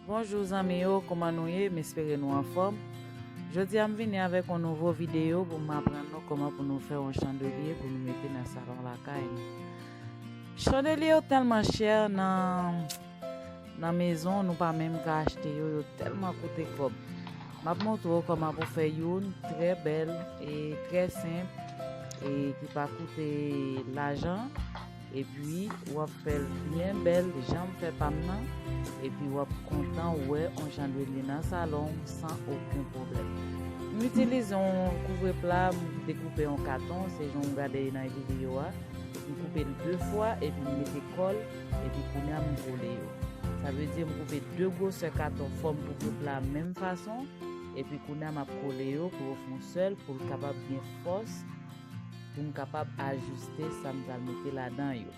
Bonjour zanmi yo kouman nou ye m espere nou anfòm Jodi a m vini avèk yon nouvo videyo pou m aprann nou kòman pou nou fè yon chandelye pou nou mete nan salon lakay nou Chandelye yo tèlman chè nan nan mezon nou pa menm ka achte yo yo tèlman koute kòb M ap montre w kòman pou fè youn trè bèl e trè senp e ki pa koute lajan. Epi wap fèl byen bèl janm fè pam nan epi wap kontan wè on jan lwil li nan salon w san oken pwoblèm. M itilize on kouvre pla m dekoupe an katon se jan w gade nan video a, m koupe l 2 fwa epi m mete kòl epi kounya m kole yo. Sa vle di m koupe 2 gwosè katon fòm kouvre pla a menm fason epi kounya map kole yo pou yo fon sèl pou l kapab gen fòs pou m kapab ajiste sa m pral mete ladan yo.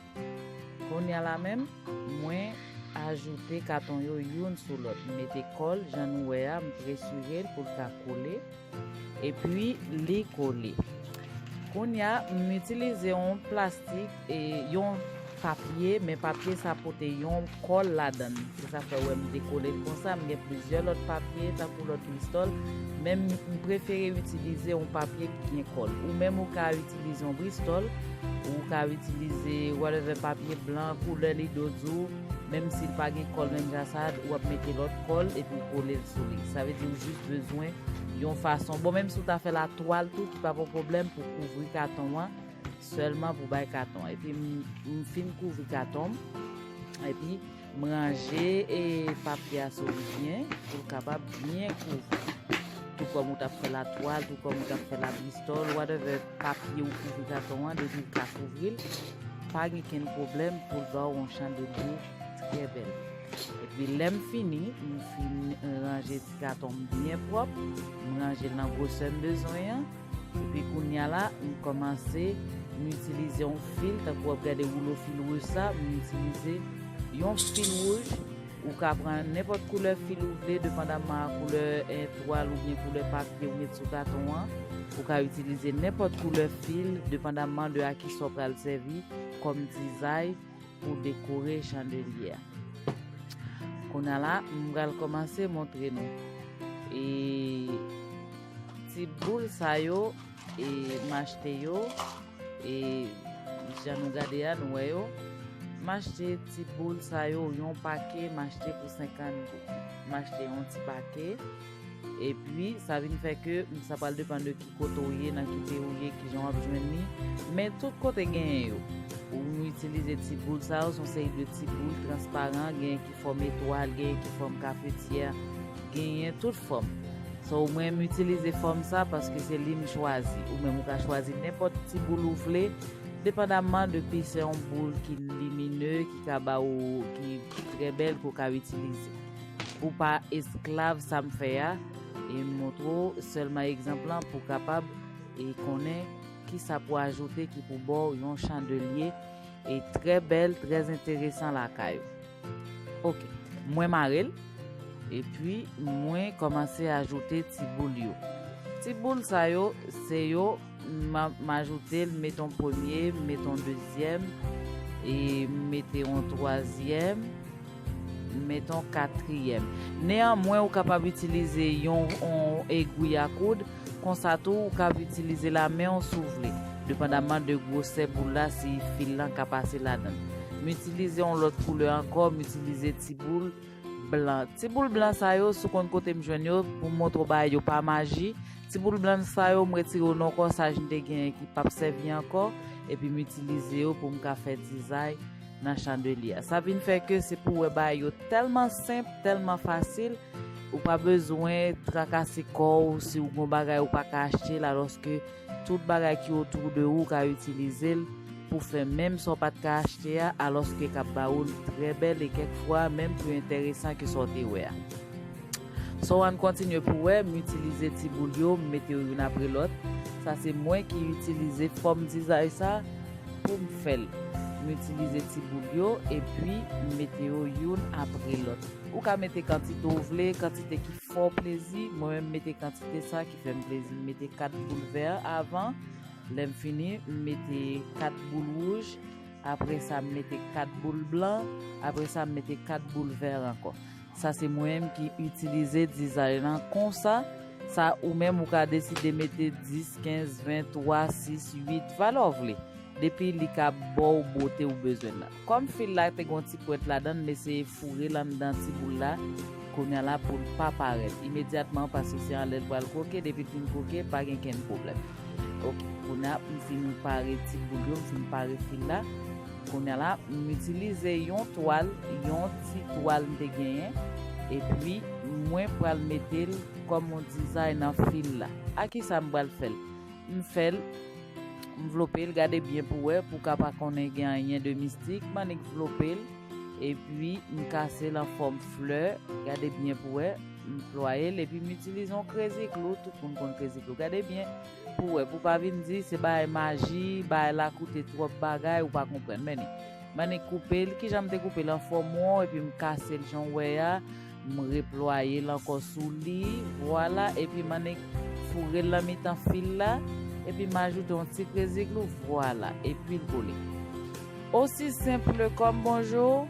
Konnya la menm, mwen ajoute katon yo youn sou lòt. M mete kòl, jan nou wè a, m presire l pou l ka kole. Epi, li kole. Konnya, m itilize yon plastik. E yon papye, men papye sa pote yon kòl ladan l. Se sa fè ou wè m dekole l konsa. M gen plizyè lòt papye tankou lòt bristòl, men m prefere itilize yon papye ki gen kòl. Ou menm ou ka itilize yon bristòl, ou ka itilize whatever papye blan, koulè li do di w, menm si l pa gen kòl menm jan sa, ou ap mete lòt kòl epi ou kole l sou li. Sa vle di ou jis bezwen yon fason, bon menm si ou ta fè la twal tou ki pa pou pwoblèm pou kouvri katon an, Sèlman pou bay katon. Epi m fin kouvri katon m. Epi m ranje e papye a sou li byen pou l kapab byen kouvri. Tou kòm ou tap fè la twal, tou kòm ou tap fè la bristòl, whatever papye ou kouvri katon an depi ou ka kouvri l. Pa gen kenn pwoblèm pou l ba ou yon chandelier trè bèl. Epi lè m fini, m fin ranje ti katon m byen pwòp. M ranje l nan gwosè m bezwen an. Epi kounya la m kòmanse m itilize yon fil tankou wap gade woulo fil wouj sa m itilize yon fil wouj ou ka pran nenpòt koulè fil ou vle depandaman a koulè twal oubyen koulè papye ou met sou katon an ou ka itilize nenpòt koulè fil depandaman de a kisa w pral sèvi kòm dizay pou dekore chandelye a kounya la m pral kòmanse montre nou e. Ti boul sa yo e m achte yo e jan nou gade a nou wè yo. M achte ti boul sa yo yon pake m achte pou 50 goud. M achte yon ti pake e pi sa vin fè ke sa pral depan de ki kote ou ye, nan ki peyi ou ye, ki jan w ap jwenn li. Men tout kote genyen yo. Ou itilize ti boul sa yo, son seri de ti boul transparan genyen ki. fòm etwal, genyen ki fòm kafetyè, genyen tout fòm. So mwen m itilize fòm sa paske se li m chwazi. Ou menm ou ka chwazi nenpòt ti boul ou vle, depandamman depi se yon boul ki limine, ki ka ba ou, ki trè bèl ke w ka itilize. Pou pa esklav sa m fè a, e m montre w sèlman egzanp lan pou w kapab e konnen kisa pou ajoute ki pou ba w yon chandelye e trè bèl, trè enteresan lakay ou. Ok mwen mare l epi mwen komanse ajoute ti boul yo ti boul sa yo se yo m ajoute l met on premye m met on dezyèm e m mete on twazyèm m met on katriyèm neyanmwen ou kapab itilize yon egwi a koud Konsa tou ou kab itilize lamen w si w vle, depandaman de gwosè boul la si fil lan ka pase ladann. M itilize yon lòt koulè ankò, m itilize ti boul blan. Ti boul blan sa yo, si w konn kote m jwenn yo, pou m montre w bagay yo pa maji, ti boul blan sa yo m retire yo nan kòsaj m te genyen ki p ap sèvi ankò, epi m itilize yo pou m ka fè dizay. nan chandelier a. Sa vin fè ke se pou wè bagay yo tèlman senp, tèlman fasil, ou pa bezwen trakase kò ou si ou gon bagay ou pa ka achte l alòske tout bagay ki otou de ou ka itilize l pou fè menm sa w pa t ka achte a alòske k ap ba ou l trè bèl e kèk fwa menm pi enteresan ke sa w te wè a. Sow ann kontinye pou wè m itilize ti boul yo m mete yo youn apre lòt sa se mwen ki itilize fòm dizay sa pou m fè l m itilize ti boul yo epi m mete yo youn apre lòt ou ka mete kantite w vle kantite ki fè w plezi mwen menm m mete kantite sa ki fè m plezi m mete 4 boul vè avan lè m fini m mete 4 boul wouj apre sa m mete 4 boul blan apre sa m mete 4 boul vè ankò Sa se mwenm ki itilize dizay lan konsa sa ou menm ou ka deside mete 10, 15, 20, 3, 6, 8 valè w vle depi li ka baw bote ou bezwen lan. Kòm fil la te gon ti pwent ladann m eseye foure l anndan ti boul la kounya la pou l pa parèt imedyatman paske se anlè l pral kwoke depi l fin kwoke pa gen kenn pwoblèm ok kounya m fin pare ti boul yo m fin pare fil la Kounye la, m itilize yon twal, yon ti twal m te genyen, epi mwen pral mete l kòm yon dizay nan fil la. A ki sa m pral fè l? M fè l, m vlope l, gade byen pou wè, pou w ka pa konnen gen anyen de mistik, m annik vlope l, epi m kase l an fòm flè, gade byen pou wè, m plwaye l, epi m itilize yon krezi klou, tout moun konn krezi klou, gade byen, Pou wè pou pa vin di se bagay maji bagay la koute twòp bagay ou pa konprann many many koupel kijan m te koupel an fòm won epi m kasel jan w wè a m replwayel ankò sou li vwala epi many fourel nan mitan fil la epi m ajoute yon ti krezi glou vwala epil kole. Osi simple kom bonjour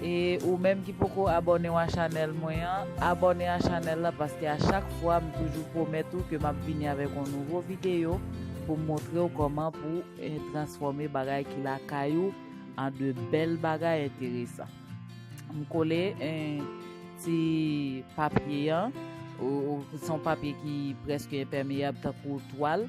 e ou menm ki poko abònew a chanèl mwen an abòne a chanèl la paske a chak fwa m toujou pwomèt ou ke map vini avèk yon nouvo videyo poum montrew kòman pou transfòme bagay ki lakay ou an de bèl bagay enteresan m kole ti papye an son papye ki preske enpèmeyab tankou twal.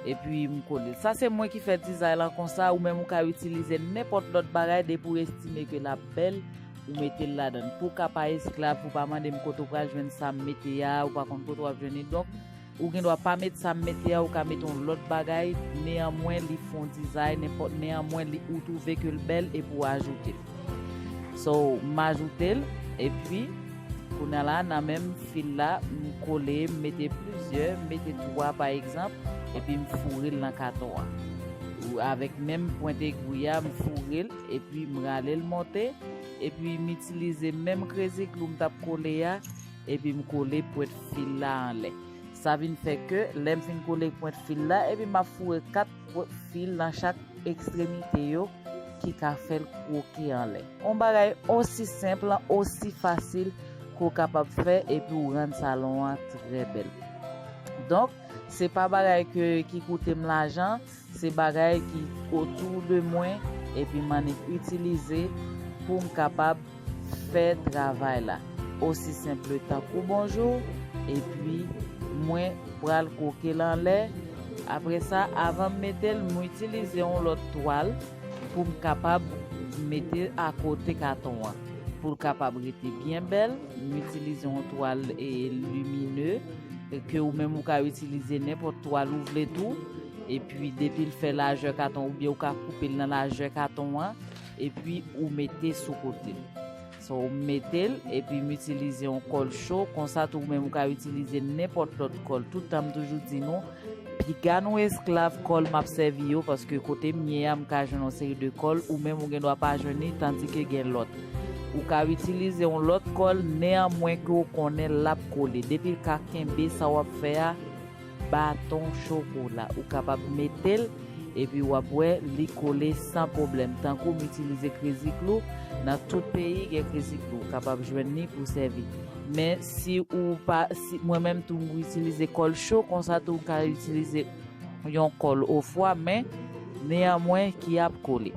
Epi m kole l. Sa se mwen ki fè dizay lan konsa, ou menm ou ka itilize nenpòt lòt bagay depi ou estime ke l ap bèl, ou mete l ladan l. Pou w ka pa esklav, pou w pa mande m kote w pral jwenn sa m mete a, ou pa konn kote w ap jwenn li. Donk, ou gen dwa pa met sa m mete a, ou ka mete yon lòt bagay, neyanmwen li fè yon dizay, nenpòt, neyanmwen li, ou twouve ke l bèl epi ou ajoute l. So, m ajoute l, epi. Kounye la nan menm fil la m kole m mete plizyè m mete 3 pa egzanp epi m foure l nan katon an ou avèk menm pwent egwi a m foure l epi m rale l monte epi m itilize menm krezi klou m tap kole a epi m kole pwent fil la anlè sa vin fè ke lèm fin kole pwent fil la epi map foure 4 Pot fil nan chak ekstremite yo ki ka fè l kwoke anlè. On bagay osi senp lan, osi fasil ke w kapab fè epi w rann salon an trè bèl. Donk, se pa bagay ke ki koute m lajan, se bagay ki otou de mwen epi m annik itilize pou m kapab. fè travay la osi senple tankou bonjour epi mwen pral kwokel anlè apre sa avanm metel mwen itilize yon lòt twal poum kapab mete akote katon an poul kapab rete byen bèl m itilize yon twal limine ke ou menm ou ka itilize nenpòt twal ou vle tou epi depil fè lajè katon oubyen ou ka koupel nan lajè katon an. epi ou mete sou kote so ou metel epi m itilize yon kòl cho konsa tou ou menm ou ka itilize nenpòt lòt kòl tout tan m toujou di nou piga nou esklav kòl map sèvi yo paske kote m ye a m ka jwenn yon seri de kòl ou menm ou gen dwa pa jwenn li tandi ke gen lòt ou ka itilize yon lòt kòl neanmwen ke ou konnen lap kole depi l ka kenbe sa wap fè a. Baton chokola ou kapab metel epi wap wè li kole san pwoblèm tankou m itilize krezi klou nan tout peyi gen krezi klou ou kapab jwenn li pou sèvi men si ou pa si mwen menm tou m itilize kòl cho konsa tou ou ka itilize yon kòl ofwa men neyanmwen ki ap kole.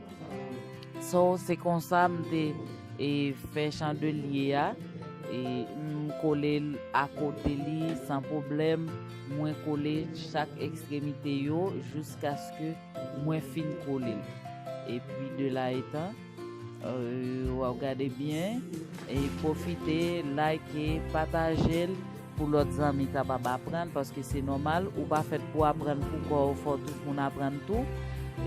So se konsa m te e fè chandelye a e m kole l akote li san pwoblèm, mwen kole chak ekstremite yo jiskaske mwen fin kole l. Epi de la etan, euh, wap gade byen, e pwofite like, pataje l. Pou lòt zanmi kapab aprann, paske se nòmal, ou pa fèt pou aprann pou kò w, fò tout moun aprann tou.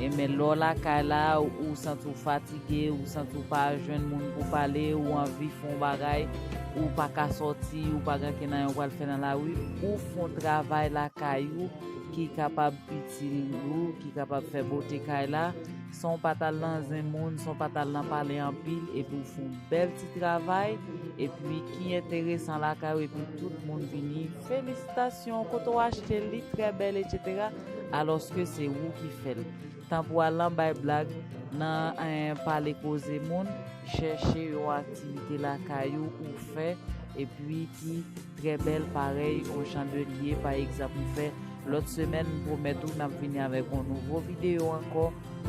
E men lè w lakay la, ou santi w fatige, ou santi w pa jwenn moun pou pale, ou anvi fè yon bagay, ou pa ka sòti, ou pa gen ankenn anyen w pral fè nan lari, ou fè yon travay lakay ou ki kapab itil ou, ki kapab fè bote kay la, Sonw pa tal nan zen moun, sonw pa tal nan pale anpil epi ou fon bèl ti travay epi ki enteresan lakay ou epi tout moun vini felisitasyon kote w achte l li trè bèl etc alòske se ou ki fèl tan pou al nan bay blag nan pale koze moun chèche yon aktivite lakay ou ou fè epi ki Trè bèl parèy on chandelier pa egzanp m fè lòt semèn m pwomèt ou nap vini avèk on nouvo video ankò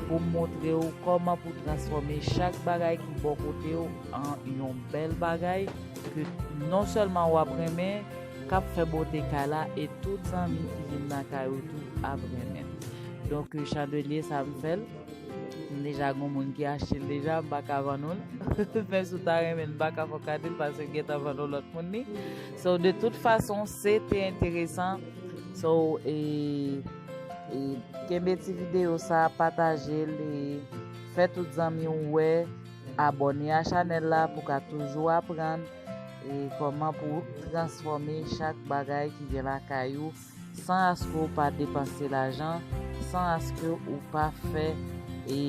poum montre w kòman pou transfòme chak bagay ki bò kote w an yon bèl bagay ke non sèlman wap renmen kap fè bote kay la e tout zanmi ki vin nan kay ou tou ap renmen donk chandelier sa m fèl M deja gon moun ki achte l deja m pa ka vann ou l. Men si w ta renmen l m pa ka fè w kado l paske m gentan vann yon lòt moun li. So de tout fason se te enteresan. So e e kenbe ti videyo sa pataje l e fè tout zanmi w wè. Abòne a chanèl la pou w ka toujou aprann e kòman pou w transfòme chak bagay ki gen lakay ou. san aske w pa depanse lajan, san aske w pa fè e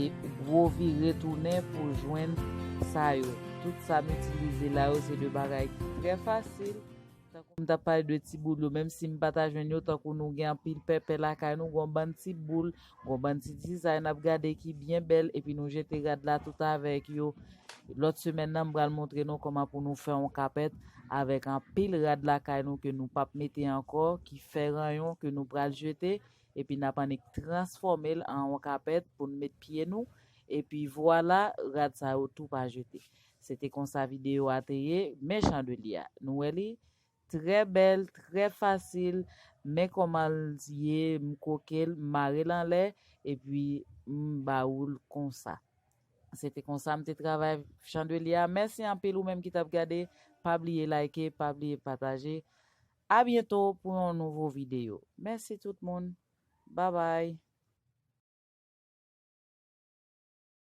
gwo vire tounen pou w jwenn sa yo. Tout sa m itilize la yo se de bagay ki trè fasil. Tankou m t ap pale de ti boul yo, menm si m pa ta jwenn yo, tankou nou gen anpil pèpè lakay nou, gen yon bann ti boul Gon bann ti dizay nap gade ki byen bèl epi nou jete rad la tout avèk yo. Lòt semèn nan m pral montre nou kòman pou nou fè yon kapèt avèk anpil rad lakay nou ke nou pap mete ankò ki fè ranyon ke nou pral jete epi nap annik transfòme l an yon kapèt pou n met pye nou epi vwala rad sa yo tou pa jete. Se te konsa videyo a te ye, mechan de li a. Nou wè li? Trè bèl, trè fasil, men kòmanl ye m krokel, m marel anlè epi m ba oul konsa. Se te konsa m te travay chandelier a. Mèsi anpil ou menm ki tap gade, pa bliye like, pa bliye pataje. A byento pou yon nouvo video. Mèsi tout moun. Babay.